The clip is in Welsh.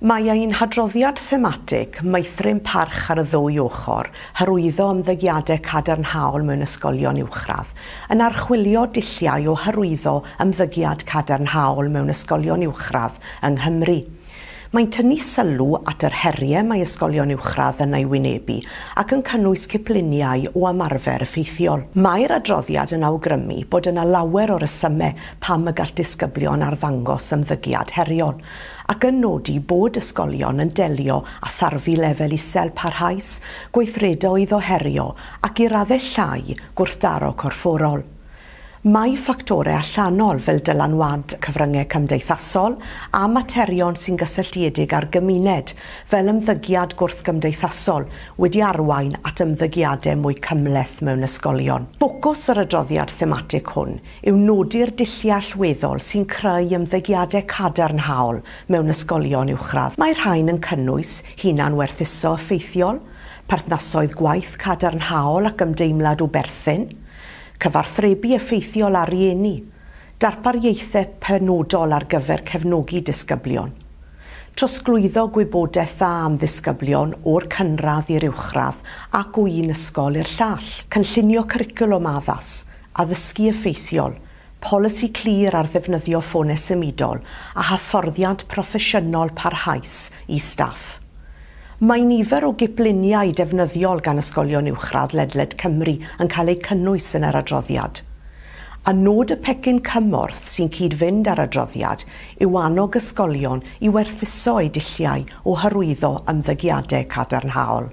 Mae ein hadroddiad thematig, Meithrin Parch ar y Ddwy Ochr, Hyrwyddo Ymddygiadau Cadarnhaol mewn Ysgolion Uwchradd, yn archwilio dulliau o hyrwyddo ymddygiad cadarnhaol mewn ysgolion uwchradd yng Nghymru. Mae'n tynnu sylw at yr heriau mae ysgolion uwchradd yn eu wynebu ac yn cynnwys cipluniau o ymarfer effeithiol. Mae'r adroddiad yn awgrymu bod yna lawer o resymau pam y gall disgyblion arddangos ymddygiad heriol, ac yn nodi bod ysgolion yn delio â tharfu lefel isel parhaus, gweithredoedd o herio ac i raddau llai gwrthdaro corfforol. Mae ffactorau allanol fel dylanwad cyfryngau cymdeithasol a materion sy'n gysylltiedig â'r gymuned, fel ymddygiad gwrthgymdeithasol, wedi arwain at ymddygiadau mwy cymhleth mewn ysgolion. Ffocws yr adroddiad thematig hwn yw nodi'r dulliau allweddol sy'n creu ymddygiadau cadarnhaol mewn ysgolion uwchradd. Mae'r rhain yn cynnwys hunan-werthuso effeithiol, perthnasoedd gwaith cadarnhaol ac ymdeimlad o berthyn, cyfathrebu effeithiol â rhieni, darpariaethau penodol ar gyfer cefnogi disgyblion, trosglwyddo gwybodaeth dda am ddisgyblion o'r cynradd i'r uwchradd ac o un ysgol i'r llall, cynllunio cwricwlwm addas, addysgu effeithiol, polisi clir ar ddefnyddio ffonau symudol a hyfforddiant proffesiynol parhaus i staff. Mae nifer o gipluniau defnyddiol gan ysgolion uwchradd ledled Cymru yn cael eu cynnwys yn yr adroddiad. A nod y pecyn cymorth sy'n cyd-fynd â'r adroddiad yw annog ysgolion i werthuso eu dulliau o hyrwyddo ymddygiadau cadarnhaol.